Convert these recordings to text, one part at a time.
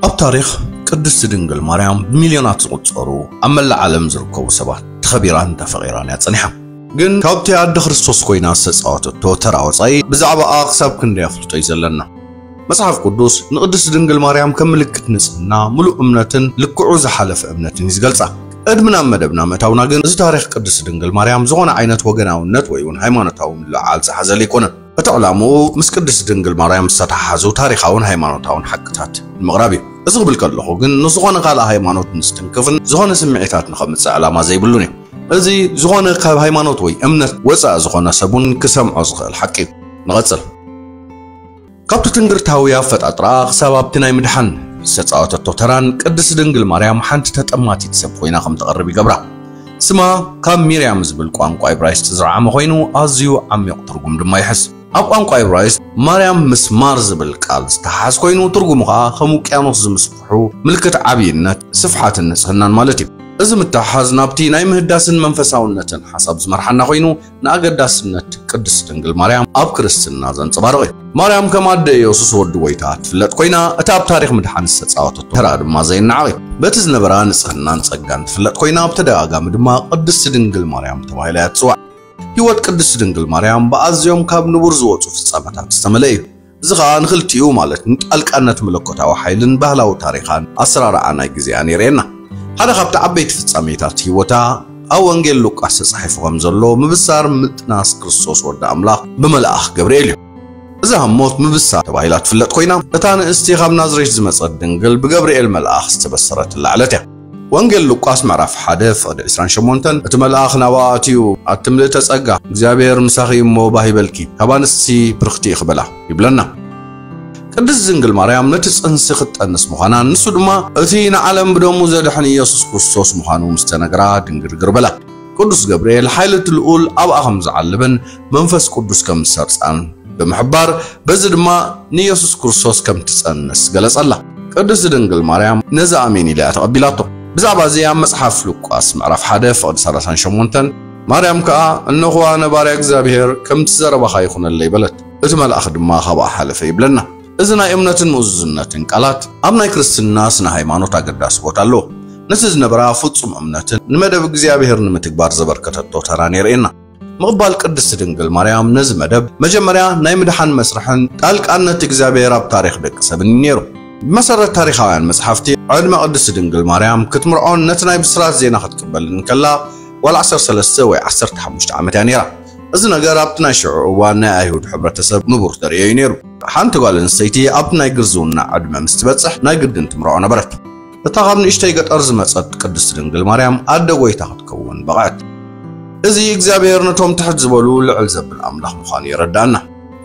ኣብ ታሪኽ ቅድስቲ ድንግል ማርያም ብሚልዮናት ዝቑጸሩ ኣብ መላእ ዓለም ዝርከቡ ሰባት ተኸቢራን ተፈቒራን እያ ጸኒሓ። ግን ካብቲ ኣደ ክርስቶስ ኮይና ዝተጻወተቶ ተራ ወጻኢ ብዛዕባኣ ክሳብ ክንደይ ኣፍልጦ እዩ ዘለና? መጽሓፍ ቅዱስ ንቅድስት ድንግል ማርያም ከም ምልክት ንጽህና፣ ምሉእ እምነትን ልክዑ ዝሓለፈ እምነትን እዩ ዝገልጻ። ቅድሚ ናብ መደብና ምእታውና ግን እዚ ታሪኽ ቅድስት ድንግል ማርያም ዝኾነ ዓይነት ወገናውነት ወይ እውን ሃይማኖታዊ ምልዕዓል ዝሓዘለ ኣይኮነን። እቲ ዕላምኡ ምስ ቅድስት ድንግል ማርያም ዝተተሓሓዙ ታሪኻውን ሃይማኖታውን ሓቅታት ንምቕራብ እዩ። እዚ ክብል ከለኹ ግን ንዝኾነ ካልእ ሃይማኖት ንዝትንክፍን ዝኾነ ስምዒታት ንኸምጽእ ዕላማ ዘይብሉን እዩ። እዚ ዝኾነ ካብ ሃይማኖት ወይ እምነት ወጻኢ ዝኾነ ሰብ እውን ክሰምዖ ዝኽእል ሓቂ እዩ። ንቐጽል። ካብቲ ትንግርታዊ ኣፈጣጥራኣ ክሳብ ኣብቲ ናይ ምድሓን ዝተጻወተቶ ተራን ቅድስት ድንግል ማርያም ሓንቲ ተጠማቲት ሰብ ኮይና ከም ትቐርብ ይገብራ። ስማ ካብ ሚርያም ዝብል ቋንቋ ኢብራይስጥ ዝረዓመ ኮይኑ ኣዝዩ ዓሚቕ ትርጉም ድማ ይሕዝ። ኣብ ቋንቋ ኢብራይስጥ ማርያም ምስ ማር ዝብል ቃል ዝተሓሓዝ ኮይኑ ትርጉሙ ከኣ ከም ውቅያኖስ ዝምስፍሑ ምልክት ዓብይነት፣ ስፍሓትን ንጽህናን ማለት እዩ። እዚ ምትሕሓዝ ናብቲ ናይ ምህዳስን መንፈሳውነትን ሓሳብ ዝመርሓና ኮይኑ ንኣገዳስነት ቅድስት ድንግል ማርያም ኣብ ክርስትና ዘንጸባርቕ እዩ። ማርያም ከም ኣደ ኢየሱስ ወዲ ጐይታ እትፍለጥ ኰይና፣ እቲ ኣብ ታሪኽ ምድሓን ዝተጻወተቶ ተራ ድማ ዘይነዓቕ እዩ። በቲ ዝነበራ ንጽህናን ጸጋን ትፍለጥ ኰይና፣ ብተደጋጋሚ ድማ ቅድስት ድንግል ማርያም ተባሂላ እያ እትጽዋዕ። ሕይወት ቅድስት ድንግል ማርያም ብኣዝዮም ካብ ንቡር ዝወጹ ፍጻመታት ዝተመልአ እዩ። እዚ ኸኣ ንኽልቲኡ ማለት ንጣልቃነት መለኮታዊ ሓይልን ባህላዊ ታሪኻን ኣሰራርዓ ናይ ግዜኣን የርእየና። ሓደ ካብቲ ዓበይቲ ፍጻሜታት ህይወታ ኣብ ወንጌል ሉቃስ ተጻሒፉ ከም ዘሎ ምብሳር ምጥናስ ክርስቶስ ወዲ ኣምላኽ ብመልኣኽ ገብርኤል እዩ። እዛ ኣብ ሞት ምብሳር ተባሂላ ትፍለጥ ኮይና እታ ንእስቲ ካብ ናዝሬት ዝመጸት ድንግል ብገብርኤል መልኣኽ ዝተበሰረትላ ዕለት እያ። ወንጌል ሉቃስ ምዕራፍ ሓደ ፍቕዲ ዕስራን ሸሞንተን እቲ መልኣኽ ናብኣ ኣትዩ ኣቲ ምልእተ ጸጋ እግዚኣብሔር ምሳኺ እዩ እሞ ባህ ይበልኪ ካብ ኣንስቲ ብርኽቲ ኢኺ በላ ይብለና። ቅድስት ድንግል ማርያም ነቲ ጽንሲ ክትጠንስ ምዃናን ንሱ ድማ እቲ ንዓለም ብደሙ ዘድሕን ኢየሱስ ክርስቶስ ምዃኑ ምስ ተነግራ ድንግርግር በላ። ቅዱስ ገብርኤል ሓይሊ እቲ ልኡል ኣብኣ ከም ዝዓለበን መንፈስ ቅዱስ ከም ዝሰርጻን ብምሕባር በዚ ድማ ንየሱስ ክርስቶስ ከም እትጸንስ ገለጸላ። ቅድስቲ ድንግል ማርያም ነዚ ኣሜን ኢላ እያ ተቐቢላቶ። ብዛዕባ እዚ ኣብ መጽሓፍ ሉቃስ ምዕራፍ ሓደ ፍቕዲ ሰላሳን ሸሞንተን ማርያም ከኣ እነኹ ኣነ ባርያ እግዚኣብሄር ከምቲ ዘረባኻ ይኹነለይ በለት እቲ መልኣኽ ድማ ካብኣ ሓለፈ ይብለና። እዚ ናይ እምነትን ምእዙዝነትን ቃላት ኣብ ናይ ክርስትና ስነ ሃይማኖት ኣገዳሲ ቦታ ኣለዎ። ነቲ ዝነበራ ፍጹም እምነትን ንመደብ እግዚኣብሔር ንምትግባር ዘበርከተቶ ተራን የርእየና። ምቕባል ቅድስቲ ድንግል ማርያም ነዚ መደብ መጀመርያ ናይ ምድሓን መስርሕን ጣልቃነት እግዚኣብሔር ኣብ ታሪኽ ደቂ ሰብን እዩ ነይሩ። ብመሰረት ታሪኻውያን መጽሓፍቲ ዕድመ ቅድስቲ ድንግል ማርያም ክትምርዖን ነቲ ናይ ብስራት ዜና ክትቅበልን እንከላ ጓል ዓሰርተ ሰለስተ ወይ ዓሰርተ ሓሙሽተ ዓመት እያ ነይራ። እዚ ነገር ኣብቲ ናይ ሽዑ እዋን ናይ ኣይሁድ ሕብረተሰብ ንቡር ተርእዮ እዩ ነይሩ። ሓንቲ ጓል ኣንስተይቲ ኣብቲ ናይ ግርዝውና ዕድመ ምስ ትበጽሕ ናይ ግድን ትምርዖ ነበረት። እታ ካብ ንእሽተይ ገጠር ዝመጸት ቅድስቲ ድንግል ማርያም ኣደ ጐይታ ክትከውን በቕዐት። እዚ እግዚኣብሔር ነቶም ትሕት ዝበሉ ልዕል ዘብል ኣምላኽ ምዃኑ የረድኣና።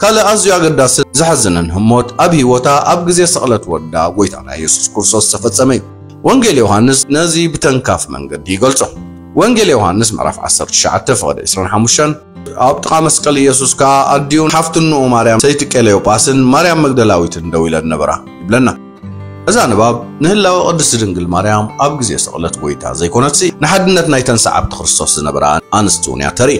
ካልእ ኣዝዩ ኣገዳስን ዘሕዝንን ህሞት ኣብ ህይወታ ኣብ ግዜ ስቕለት ወዳ ጐይታና የሱስ ክርስቶስ ዝተፈጸመ እዩ። ወንጌል ዮሃንስ ነዚ ብተንካፊ መንገዲ ይገልጾ። ወንጌል ዮሃንስ ምዕራፍ ዓሰርተ ትሽዓተ ፍቕዲ ዕስራን ሓሙሽተን ኣብ ጥቓ መስቀል ኢየሱስ ከኣ ኣዲኡን ሓፍቲ እንኡ ማርያም ሰይቲ ቀለዮጳስን ማርያም መግደላዊትን ደው ኢለን ነበራ ይብለና። እዛ ንባብ ንህላወ ቅድስቲ ድንግል ማርያም ኣብ ግዜ ስቕለት ጐይታ ዘይኮነትሲ ንሓድነት ናይተን ሰዓብቲ ክርስቶስ ዝነበራ ኣንስቲ እውን እያ ተርኢ።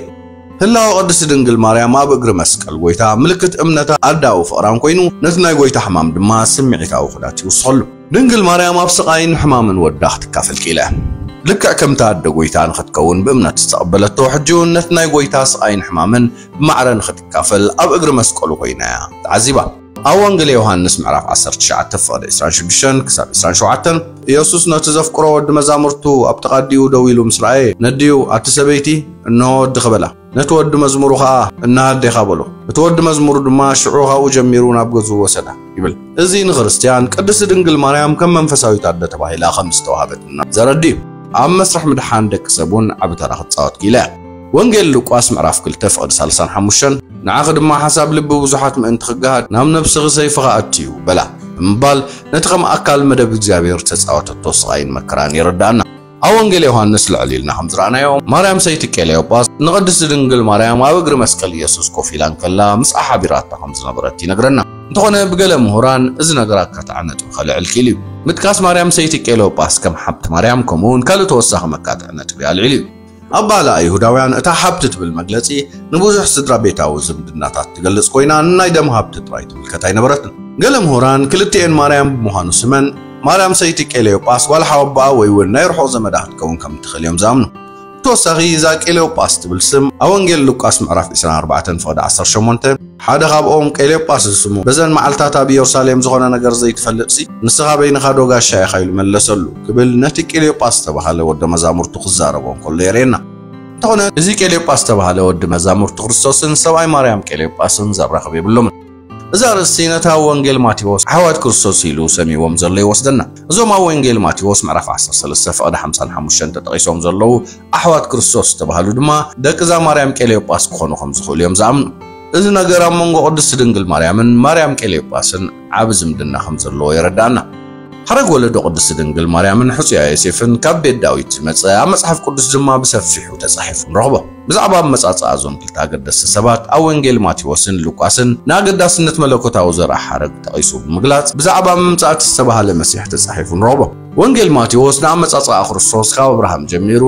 ህላወ ቅድስቲ ድንግል ማርያም ኣብ እግሪ መስቀል ጐይታ ምልክት እምነታ ኣደኣዊ ፍቕራን ኮይኑ ነቲ ናይ ጐይታ ሕማም ድማ ስምዒታዊ ኹዳት ይውስኸሉ። ድንግል ማርያም ኣብ ስቓይን ሕማምን ወዳ ክትካፈል ክኢላ እያ። ልክዕ ከምቲ ኣደ ጐይታ ንኽትከውን ብእምነት ዝተቐበለቶ፣ ሕጂውን ነቲ ናይ ጐይታ ስቓይን ሕማምን ብማዕረ ንኽትካፈል ኣብ እግሪ መስቀሉ ኮይና እያ ተዓዚባ። ኣብ ወንጌል ዮሃንስ ምዕራፍ ዓሰርተ ትሽዓተ ፍቕዲ ዕስራን ሽዱሽተን ክሳብ ዕስራን ሸውዓተን፣ ኢየሱስ ነቲ ዘፍቅሮ ወዲ መዛሙርቱ ኣብ ጥቓ ኣዲኡ ደው ኢሉ ምስ ረኣየ፣ ነዲኡ፣ ኣቲ ሰበይቲ፣ እንሆ ወድኺ በላ። ነቲ ወዲ መዝሙሩ ኸኣ እነሀ ኣዴኻ በሎ። እቲ ወዲ መዝሙሩ ድማ ሽዑ ኻብኡ ጀሚሩ ናብ ገዝኡ ወሰዳ ይብል። እዚ ንክርስትያን ቅድስቲ ድንግል ማርያም ከም መንፈሳዊት ኣደ ተባሂላ ከም ዝተዋህበትና ዘረድእ እዩ። ኣብ መስርሕ ምድሓን ደቂ ሰብ እውን ዓቢ ተራ ክትጻወት ክኢላ እያ። ወንጌል ሉቃስ ምዕራፍ ክልተ ፍቕዲ ሳልሳን ሓሙሽተን ንዓኺ ድማ ሓሳብ ልቢ ብዙሓት ምእንቲ ክገሃድ ናብ ነብስኺ ሰይፍኻ ኣእትዩ በላ ብምባል ነቲ ከም ኣካል መደብ እግዚኣብሔር እተጻወተቶ ስቓይን መከራን የረድኣና። ኣብ ወንጌል ዮሃንስ ልዕል ኢልና ከም ዝረኣናዮ ማርያም ሰይቲ ቄሌዮጳስ ንቅድስቲ ድንግል ማርያም ኣብ እግሪ መስቀል ኢየሱስ ኮፍ ኢላ እንከላ ምስኣ ሓቢራታ ከም ዝነበረት ይነግረና። እንተኾነ ብገለ ምሁራን እዚ ነገር ኣካታዒ ነጥቢ ከልዕል ክኢሉ እዩ። ምጥቃስ ማርያም ሰይቲ ቄሌዮጳስ ከም ሓብቲ ማርያም ከምኡውን ካልእ ተወሳኺ መካትዒ ነጥቢ ኣልዒሉ እዩ። ኣባህላ ኣይሁዳውያን እታ ሃብቲ ትብል መግለጺ ንብዙሕ ስድራ ቤታዊ ዝምድናታት ትገልጽ ኮይና ንናይ ደም ሃብቲ ጥራይ ትምልከት ኣይነበረትን። ገለ ምሁራን ክልቲኤን ማርያም ብምዃኑ ስመን ማርያም ሰይቲ ቄሌዮጳስ ጓል ሓወቦኣ ወይ እውን ናይ ርሑቕ ዘመዳ ክትከውን ከም እትኽእል እዮም ዝኣምኑ። ብተወሳኺ እዛ ቄሌዮጳስ ትብል ስም ኣብ ወንጌል ሉቃስ ምዕራፍ ዕስራን ኣርባዕተን ፍቕዲ ዓሰርተ ሸሞንተ፣ ሓደ ኻብኦም ቄሌጳስ ዝስሙ፣ በዘን መዓልትታት ኣብ ኢየሩሳሌም ዝዀነ ነገር ዘይትፈልጥሲ፣ ንስኻ በይንኻዶ ጋሻ ኢኻ? ኢሉ መለሰሉ ክብል ነቲ ቄሌጳስ ዝተባህለ ወደ መዛሙርቱ ክዛረቦ እንከሎ የርእየና። እንተዀነ እዚ ቄሌጳስ ዝተባህለ ወዲ መዛሙርቱ ክርስቶስን ሰብኣይ ማርያም ቄሌጳስን ዘራኽብ የብሎምን። እዚ ኣርእስቲ ነቲ ኣብ ወንጌል ማቴዎስ ኣሕዋት ክርስቶስ ኢሉ ሰምይዎም ዘሎ ይወስደና። እዞም ኣብ ወንጌል ማቴዎስ ምዕራፍ ዓሰርተ ሰለስተ ፍቕዲ ሓምሳን ሓሙሽተን ተጠቒሶም ዘለዉ ኣሕዋት ክርስቶስ ዝተባህሉ ድማ ደቅዛ ማርያም ቄሌዮጳስ ክኾኑ ከም ዝኽእሉ እዮም ዝኣምኑ። እዚ ነገር ኣብ መንጎ ቅድስት ድንግል ማርያምን ማርያም ቄሌዮጳስን ዓቢ ዝምድና ከም ዘለዎ የረዳእና። ሓረግ ወለዶ ቅድስት ድንግል ማርያምን ሕጹያ ዮሴፍን ካብ ቤት ዳዊት ዝመጸ ኣብ መጽሓፍ ቅዱስ ድማ ብሰፊሑ ተጻሒፉ ንረኽቦ። ብዛዕባ ኣመጻጽኣ እዞም ክልተ ኣገደስቲ ሰባት ኣብ ወንጌል ማቴዎስን ሉቃስን ንኣገዳስነት መለኮታዊ ዘርኣ ሓረግ ጠቒሱ ብምግላጽ ብዛዕባ ምምጻእ እቲ ዝተባህለ መሲሕ ተጻሒፉ ንረኽቦ። ወንጌል ማቴዎስ ንኣመጻጽኣ ክርስቶስ ካብ ኣብርሃም ጀሚሩ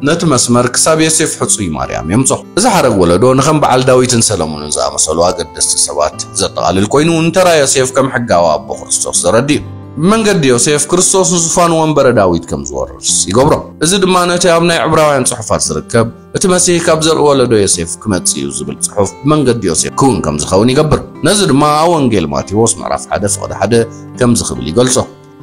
ነቲ መስመር ክሳብ ዮሴፍ ሕጹይ ማርያም የምጽኦ። እዚ ሓረግ ወለዶ ንከም በዓል ዳዊትን ሰለሙንን ዝኣመሰሉ ኣገደስቲ ሰባት ዘጠቓልል ኮይኑ ንተራ ዮሴፍ ከም ሕጋዊ ኣቦ ክርስቶስ ዘረድእ እዩ። ብመንገዲ ዮሴፍ ክርስቶስ ንዙፋን ወንበረ ዳዊት ከም ዝወርስ ይገብሮ። እዚ ድማ ነቲ ኣብ ናይ ዕብራውያን ጽሑፋት ዝርከብ እቲ መሲህ ካብ ዘርኢ ወለዶ ዮሴፍ ክመጽእ እዩ ዝብል ጽሑፍ ብመንገዲ ዮሴፍ ክውን ከም ዝኸውን ይገብር። ነዚ ድማ ኣብ ወንጌል ማቴዎስ ምዕራፍ ሓደ ፍቕዲ ሓደ ከምዚ ክብል ይገልጾ።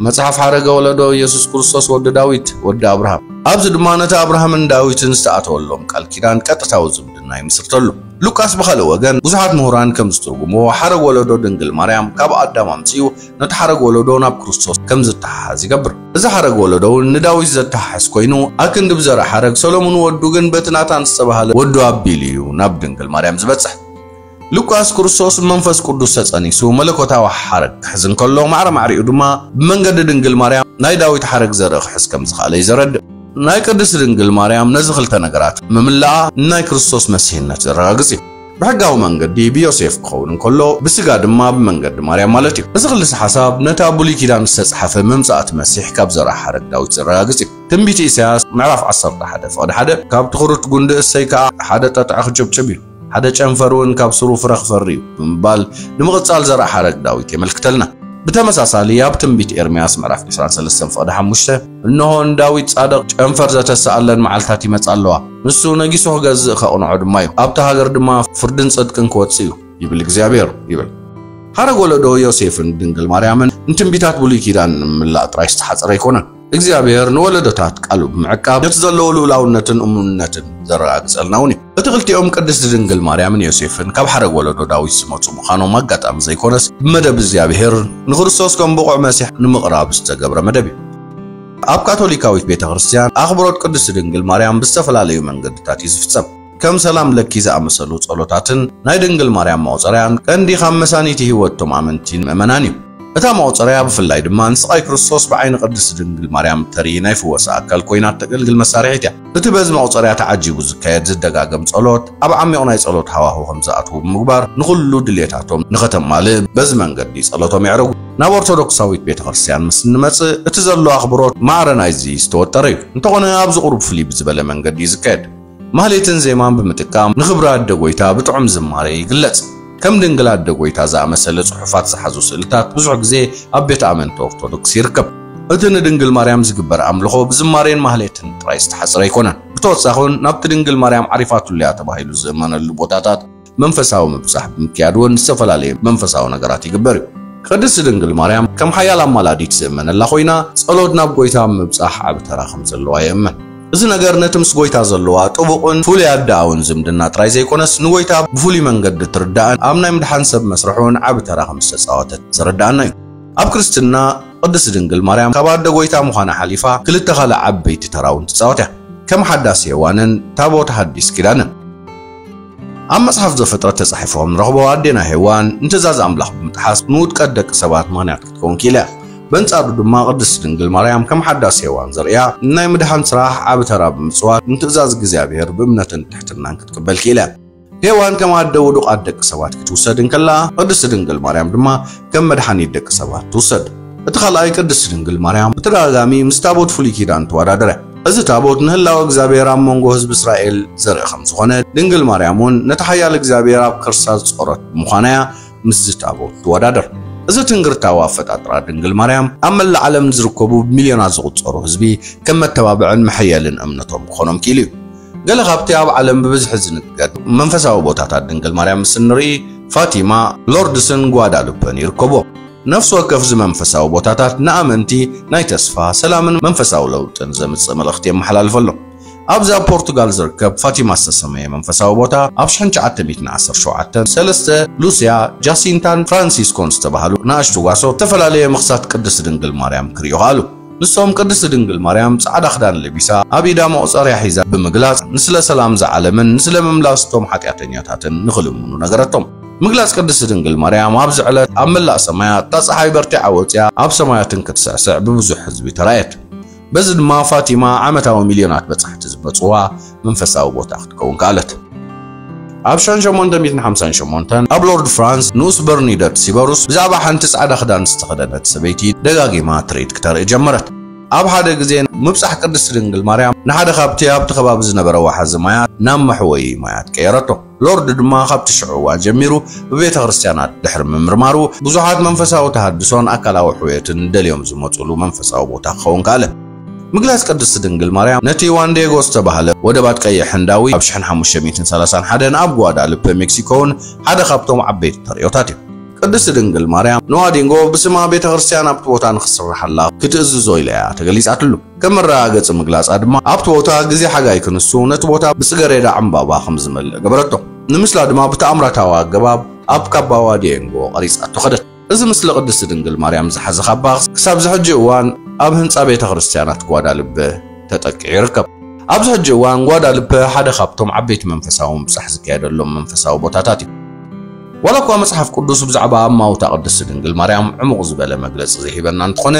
መጽሓፍ ሓረገ ወለዶ ኢየሱስ ክርስቶስ ወዲ ዳዊት ወዲ ኣብርሃም ኣብዚ ድማ ነቲ ኣብርሃምን ዳዊትን ዝተኣተወሎም ቃል ኪዳን ቀጥታዊ ዝምድና ይምስርተሉ። ሉቃስ ብኻልእ ወገን ብዙሓት ምሁራን ከም ዝትርጉምዎ ሓረግ ወለዶ ድንግል ማርያም ካብ ኣዳም ኣምጺኡ ነቲ ሓረግ ወለዶ ናብ ክርስቶስ ከም ዝተሓሓዝ ይገብር። እዚ ሓረግ ወለዶ እውን ንዳዊት ዘተሓሕዝ ኮይኑ ኣክንዲ ብዘርኢ ሓረግ ሰሎሙን ወዱ ግን በቲ ናታን ዝተባህለ ወዱ ኣቢሉ እዩ ናብ ድንግል ማርያም ዝበጽሕ። ሉቃስ ክርስቶስ ብመንፈስ ቅዱስ ተጸኒሱ መለኮታዊ ሓረግ ክሕዝ እንከሎ ማዕረ ማዕሪኡ ድማ ብመንገዲ ድንግል ማርያም ናይ ዳዊት ሓረግ ዘርኢ ክሕዝ ከም ዝኸኣለ እዩ ዘረድእ። ናይ ቅድስት ድንግል ማርያም ነዚ ክልተ ነገራት ምምልኣ ንናይ ክርስቶስ መሲሕነት ዘረጋግጽ እዩ። ብሕጋዊ መንገዲ ብዮሴፍ ክኸውን እንከሎ ብስጋ ድማ ብመንገዲ ማርያም ማለት እዩ። እዚ ክልሰ ሓሳብ ነቲ ኣብ ብሉይ ኪዳን ዝተጻሕፈ ምምጻእ እቲ መሲሕ ካብ ዘርኣ ሓረግ ዳዊት ዘረጋግጽ እዩ። ትንቢት ኢሳያስ ምዕራፍ ዓሰርተ ሓደ ፍቕዲ ሓደ ካብ ትኹርት ጉንዲ እሰይ ከኣ ሓደ ጠጥዒ ክጭብጭብ እዩ። ሓደ ጨንፈር እውን ካብ ሱሩ ፍረ ክፈሪ እዩ ብምባል ንምቕጻል ዘርኣሓረግ ዳዊት የመልክተልና። ብተመሳሳሊ ኣብ ትንቢት ኤርምያስ ምዕራፍ ዕስራን ሰለስተን ፍቕዲ ሓሙሽተ እንሆ ንዳዊት ጻድቕ ጨንፈር ዘተስኣለን መዓልትታት ይመጻ ኣለዋ፣ ንሱ ነጊሱ ክገዝእ ከቕንዖ ድማ እዩ፣ ኣብታ ሃገር ድማ ፍርድን ጽድቅን ክወጽእ እዩ ይብል እግዚኣብሔር ይብል። ሓረግ ወለዶ ዮሴፍን ድንግል ማርያምን ንትንቢታት ብሉይ ኪዳን ንምላእ ጥራይ ዝተሓጸረ ኣይኮነን። እግዚኣብሔር ንወለዶታት ቃሉ ብምዕቃብ ነቲ ዘለዎ ልኡላውነትን እሙንነትን ዘረጋግጸልና እውን እዩ። እቲ ክልቲኦም ቅድስቲ ድንግል ማርያምን ዮሴፍን ካብ ሓረግ ወለዶ ዳዊት ዝመጹ ምዃኖም ኣጋጣሚ ዘይኮነስ ብመደብ እግዚኣብሔር ንክርስቶስ ከም ብቑዕ መሲሕ ንምቕራብ ዝተገብረ መደብ እዩ። ኣብ ካቶሊካዊት ቤተ ክርስቲያን ኣኽብሮት ቅድስቲ ድንግል ማርያም ብዝተፈላለዩ መንገድታት እዩ ዝፍጸም። ከም ሰላም ለኪ ዝኣመሰሉ ጸሎታትን ናይ ድንግል ማርያም መቑጸርያን ቀንዲ ካብ መሳኒቲ ሕይወት እቶም ኣመንቲን ምእመናን እዩ። እታ መቑጸርያ ብፍላይ ድማ ንስቓይ ክርስቶስ ብዓይኒ ቅድስቲ ድንግል ማርያም እተርኢ ናይ ፍወሳ ኣካል ኮይና እተገልግል መሳርሒት እያ። እቲ በዚ መቑጸርያ ተዓጂቡ ዝካየድ ዝደጋገም ጸሎት ኣብ ዓሚቝ ናይ ጸሎት ሃዋሁ ከም ዝኣትዉ ብምግባር ንኹሉ ድልየታቶም ንኸተማልእ በዚ መንገዲ ጸሎቶም የዕርጉ። ናብ ኦርቶዶክሳዊት ቤተ ክርስቲያን ምስ እንመጽእ እቲ ዘሎ ኣኽብሮት ማዕረ ናይዚ ዝተወጠረ እዩ። እንተኾነ ኣብዚ ቁሩብ ፍልይ ብዝበለ መንገዲ እዩ ዝካየድ። ማህሌትን ዜማን ብምጥቃም ንኽብሪ ኣደ ጐይታ ብጥዑም ዝማሬ ይግለጽ። ከም ድንግል ኣደ ጐይታ ዝኣመሰለ ጽሑፋት ዝሓዙ ስእልታት ብዙሕ ግዜ ኣብ ቤት ኣመንቲ ኦርቶዶክስ ይርከብ። እቲ ንድንግል ማርያም ዝግበር ኣምልኾ ብዝማሬን ማህሌትን ጥራይ ዝተሓጽረ ኣይኮነን። ብተወሳኺውን ናብቲ ድንግል ማርያም ዓሪፋትሉ እያ ተባሂሉ ዝእመነሉ ቦታታት መንፈሳዊ ምብጻሕ ብምክያድ እውን ዝተፈላለየ መንፈሳዊ ነገራት ይግበር እዩ። ቅድስት ድንግል ማርያም ከም ሓያል ኣማላዲት ዝእመነላ ኮይና ጸሎት ናብ ጎይታ ኣብ ምብጻሕ ዓቢ ተራ ከም ዘለዋ የእምን። እዚ ነገር ነቲ ምስ ጎይታ ዘለዋ ጥቡቕን ፍሉይ ኣደኣውን ዝምድና ጥራይ ዘይኮነስ ንጎይታ ብፍሉይ መንገዲ እትርዳእን ኣብ ናይ ምድሓን ሰብ መስርሕ እውን ዓቢ ተራ ከም ዝተጻወተት ዘረድኣና እዩ። ኣብ ክርስትና ቅድስት ድንግል ማርያም ካብ ኣደ ጎይታ ምዃና ሓሊፋ ክልተ ካልእ ዓበይቲ ተራ እውን ትጻወት እያ። ከም ሓዳስ ሔዋንን ታቦት ሓዲስ ኪዳንን። ኣብ መጽሓፍ ዘፍጥረት ተጻሒፎም ንረኽቦ ኣዴና ሄዋን ንትእዛዝ ኣምላኽ ብምጥሓስ ንውድቀት ደቂ ሰባት ምኽንያት ክትከውን ክኢላ እያ። በንጻሩ ድማ ቅድስቲ ድንግል ማርያም ከም ሓዳስ ሄዋን ዘርእያ ንናይ ምድሓን ስራሕ ዓቢ ተራ ብምጽዋት ንትእዛዝ እግዚኣብሔር ብእምነትን ትሕትናን ክትቅበል ክኢላ እያ። ሄዋን ከም ኣደ ውዱቃት ደቂ ሰባት ክትውሰድ እንከላ ቅድስቲ ድንግል ማርያም ድማ ከም መድሓኒት ደቂ ሰባት ትውሰድ። እቲ ካልኣይ ቅድስቲ ድንግል ማርያም ብተደጋጋሚ ምስ ታቦት ፍሉይ ኪዳን ትወዳደር እያ። እዚ ታቦት ንህላወ እግዚኣብሔር ኣብ መንጎ ህዝቢ እስራኤል ዘርኢ ከም ዝኾነ ድንግል ማርያም እውን ነቲ ሓያል እግዚኣብሔር ኣብ ከርሳ ዝጾረት ብምዃና እያ ምስዚ ታቦት ትወዳደር። እዚ ትንግርታዊ ኣፈጣጥራ ድንግል ማርያም ኣብ መላእ ዓለም ንዝርከቡ ብሚልዮናት ዝቑጸሩ ህዝቢ ከም መተባብዕን መሐየልን እምነቶም ክኾኖም ክኢሉ እዩ። ገለ ካብቲ ኣብ ዓለም ብብዝሒ ዝንገር መንፈሳዊ ቦታታት ድንግል ማርያም ምስ እንርኢ ፋቲማ፣ ሎርድስን ጓዳሉፐን ይርከቦ። ነፍሲ ወከፍ እዚ መንፈሳዊ ቦታታት ንኣመንቲ ናይ ተስፋ፣ ሰላምን መንፈሳዊ ለውጥን ዘምጽእ መልእኽቲ የመሓላልፈሎም። ኣብዚ ኣብ ፖርቱጋል ዝርከብ ፋቲማ ዝተሰመየ መንፈሳዊ ቦታ ኣብ ሽሕን ትሽዓተ ሚእትን ዓሰርተ ሸውዓተ ሰለስተ ሉስያ፣ ጃሲንታን ፍራንሲስኮን ዝተባህሉ ንኣሽቱ ጓሶት ዝተፈላለየ ምኽሳት ቅድስቲ ድንግል ማርያም ክርእዩ ከኣሉ። ንሶም ቅድስት ድንግል ማርያም ጻዕዳ ክዳን ለቢሳ ኣብ ኢዳ መቑጸርያ ሒዛ ብምግላጽ ንስለ ሰላም ዝዓለምን ንስለ ምምላስ እቶም ሓጢኣተኛታትን ንኽልምኑ ነገረቶም። ምግላጽ ቅድስት ድንግል ማርያም ኣብዚ ዕለት ኣብ መላእ ሰማያት እታ ጸሓይ በርቲዓ ወጺኣ ኣብ ሰማያት እንክትስዕስዕ ብብዙሕ ህዝቢ ተራእየት። በዚ ድማ ፋቲማ ዓመታዊ ሚልዮናት በጻሕቲ ዝመጽዋ መንፈሳዊ ቦታ ክትከውን ከኣለት። ኣብ ሸን ሸሞንተ ሚእትን ሓምሳን ሸሞንተን ኣብ ሎርድ ፍራንስ ንኡስ በርኒደት ሲበሩስ ብዛዕባ ሓንቲ ጻዕዳ ክዳን ዝተኸደነት ሰበይቲ ደጋጊማ ትርኢት ክተርኢ ጀመረት። ኣብ ሓደ ግዜ ምብጻሕ ቅድስቲ ድንግል ማርያም ንሓደ ካብቲ ኣብቲ ከባቢ ዝነበረ ወሓዚ ማያት ናብ መሕወዪ ማያት ቀየረቶ። ሎርድ ድማ ካብቲ ሽዑ እዋን ጀሚሩ ብቤተክርስትያናት ድሕሪ ምምርማሩ ብዙሓት መንፈሳዊ ተሃድሶን ኣካላዊ ሕውየትን ደልዮም ዝመጹሉ መንፈሳዊ ቦታ ክኸውን ከኣለ። ምግላጽ ቅድስቲ ድንግል ማርያም ነቲ ዩዋን ዲየጎ ዝተባህለ ወደባት ቀይሕ ህንዳዊ ኣብ ሽሕን ሓሙሽተ ሚእትን ሰላሳን ሓደን ኣብ ጉዋዳልፐ ሜክሲኮ'ውን ሓደ ካብቶም ዓበይቲ ተርእዮታት እዩ። ቅድስቲ ድንግል ማርያም ንዋዲንጎ ብስማ ቤተክርስትያን ኣብቲ ቦታ ንኽስርሓላ ክትእዝዞ ኢላ እያ ተገሊጻትሉ። ከም መረጋገጺ ምግላጻ ድማ ኣብቲ ቦታ ግዜ ሓጋይ ክንሱ ነቲ ቦታ ብጽገሬዳ ዕምባባ ከም ዝመልእ ገበረቶ። ንምስላ ድማ ብተኣምራታዊ ኣገባብ ኣብ ካባ ዋዲየንጎ ቀሪጻቶ ከደት። እዚ ምስሊ ቅድስቲ ድንግል ማርያም ዝሓዘ ካባ ክሳብዚ ሕጂ እዋን ኣብ ህንጻ ቤተ ክርስቲያናት ጓዳልፐ ተጠቂዑ ይርከብ። ኣብዚ ሕጂ እዋን ጓዳልፐ ሓደ ካብቶም ዓበይቲ መንፈሳዊ ምብጻሕ ዝካየደሎም መንፈሳዊ ቦታታት እዩ። ዋላ እኳ መጽሓፍ ቅዱስ ብዛዕባ ኣማውታ ቅድስቲ ድንግል ማርያም ዕሙቕ ዝበለ መግለጺ ዘይህበና እንተኾነ፣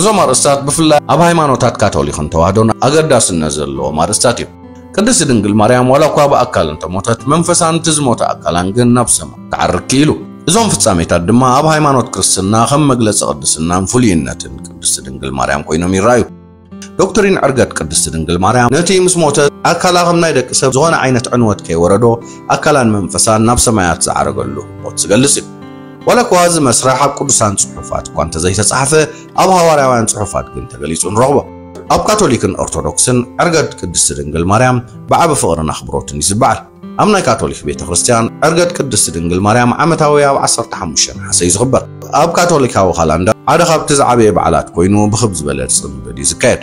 እዞም ኣርእስታት ብፍላይ ኣብ ሃይማኖታት ካቶሊኽን ተዋህዶን ኣገዳስነት ዘለዎም ኣርእስታት እዮም። ቅድስቲ ድንግል ማርያም ዋላ እኳ ብኣካል እንተሞተት መንፈሳ ነቲ ዝሞተ ኣካላን ግን ናብ ሰማይ ክዓርግ ክኢሉ። እዞም ፍጻሜታት ድማ ኣብ ሃይማኖት ክርስትና ከም መግለጺ ቅድስናን ፍሉይነትን ቅድስቲ ድንግል ማርያም ኮይኖም ይረኣዩ። ዶክትሪን ዕርገት ቅድስቲ ድንግል ማርያም ነቲ ምስ ሞተት ኣካላ ከም ናይ ደቂ ሰብ ዝኾነ ዓይነት ዕንወት ከይወረዶ ኣካላን መንፈሳን ናብ ሰማያት ዝዓረገሉ ህሞት ዝገልጽ እዩ። ዋላኳ እዚ መስርሕ ኣብ ቅዱሳን ጽሑፋት እኳ እንተዘይተጻሕፈ ኣብ ሃዋርያውያን ጽሑፋት ግን ተገሊጹ ንረኽቦ። ኣብ ካቶሊክን ኦርቶዶክስን ዕርገት ቅድስቲ ድንግል ማርያም ብዓቢ ፍቕርን ኣኽብሮትን ይዝበዓል። ኣብ ናይ ካቶሊክ ቤተ ክርስቲያን ዕርገት ቅድስቲ ድንግል ማርያም ዓመታዊ ኣብ ዓሰርተ ሓሙሽተ ነሓሰ እዩ ዝኽበር። ኣብ ካቶሊካዊ ካላንደር ሓደ ካብቲ ዝዓበየ በዓላት ኮይኑ ብኽብ ዝበለ ጽምብል እዩ ዝካየድ።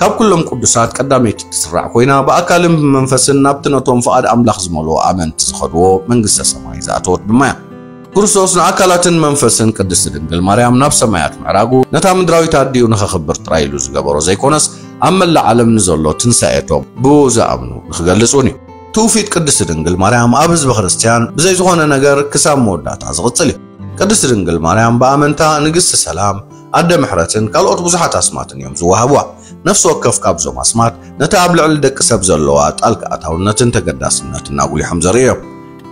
ካብ ኩሎም ቅዱሳት ቀዳመይቲ እትስራዕ ኮይና ብኣካልን ብመንፈስን ናብቲ ነቶም ፍቓድ ኣምላኽ ዝመልኦ ኣመንቲ ዝኸድዎ መንግስተ ሰማይ ዝኣተወት ድማ እያ። ክርስቶስ ንኣካላትን መንፈስን ቅድስቲ ድንግል ማርያም ናብ ሰማያት ምዕራጉ ነታ ምድራዊት ኣዲኡ ንኸኽብር ጥራይ ኢሉ ዝገበሮ ዘይኮነስ ኣብ መላእ ዓለም ንዘሎ ትንሳኤቶም ብኡ ዝኣምኑ ንኽገልጽ እውን እዩ። ትውፊት ቅድስቲ ድንግል ማርያም ኣብ ህዝበ ክርስቲያን ብዘይ ዝኾነ ነገር ክሳብ መወዳእታ ዝቕጽል እዩ። ቅድስቲ ድንግል ማርያም ብኣመንታ ንግስቲ ሰላም፣ ኣደ ምሕረትን ካልኦት ብዙሓት ኣስማትን እዮም ዝወሃቡዋ። ነፍሲ ወከፍ ካብዞም ኣስማት ነቲ ኣብ ልዕሊ ደቂ ሰብ ዘለዋ ጣልቃ ኣታውነትን ተገዳስነትን ኣጉሊሖም ዘርእዩ እዮም።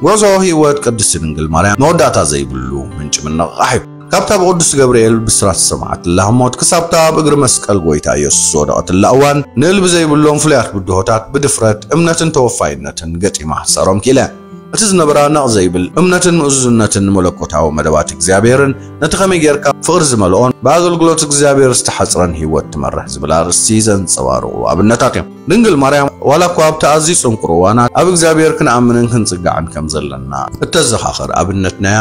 ጉዕዞ ህይወት ቅድስቲ ድንግል ማርያም መወዳእታ ዘይብሉ ምንጪ ምንቕቓሕ እዩ። ካብታ ብቅዱስ ገብርኤል ብስራት ዝሰምዓትላ ሞት ክሳብታ ኣብ እግሪ መስቀል ጎይታ ኢየሱስ ዝወደቐትላ እዋን ንእልቢ ዘይብሎም ፍሉያት ብድሆታት ብድፍረት፣ እምነትን ተወፋይነትን ገጢማ ክትሰዕሮም ክኢላ እያ። እቲ ዝነበራ ነቕ ዘይብል እምነትን ምእዙዝነትን ንመለኮታዊ መደባት እግዚኣብሔርን ነቲ ከመይ ጌርካ ፍቕሪ ዝመልኦን ብኣገልግሎት እግዚኣብሔር ዝተሓጽረን ሕይወት ትመርሕ ዝብል ኣርእስቲ ዘንጸባርቑ ኣብነታት እዮም። ድንግል ማርያም ዋላ እኳ ኣብቲ ኣዝዩ ጽንኩር እዋናት ኣብ እግዚኣብሔር ክንኣምንን ክንጽጋዕን ከም ዘለና እተዘኻኽር ኣብነት ነያ።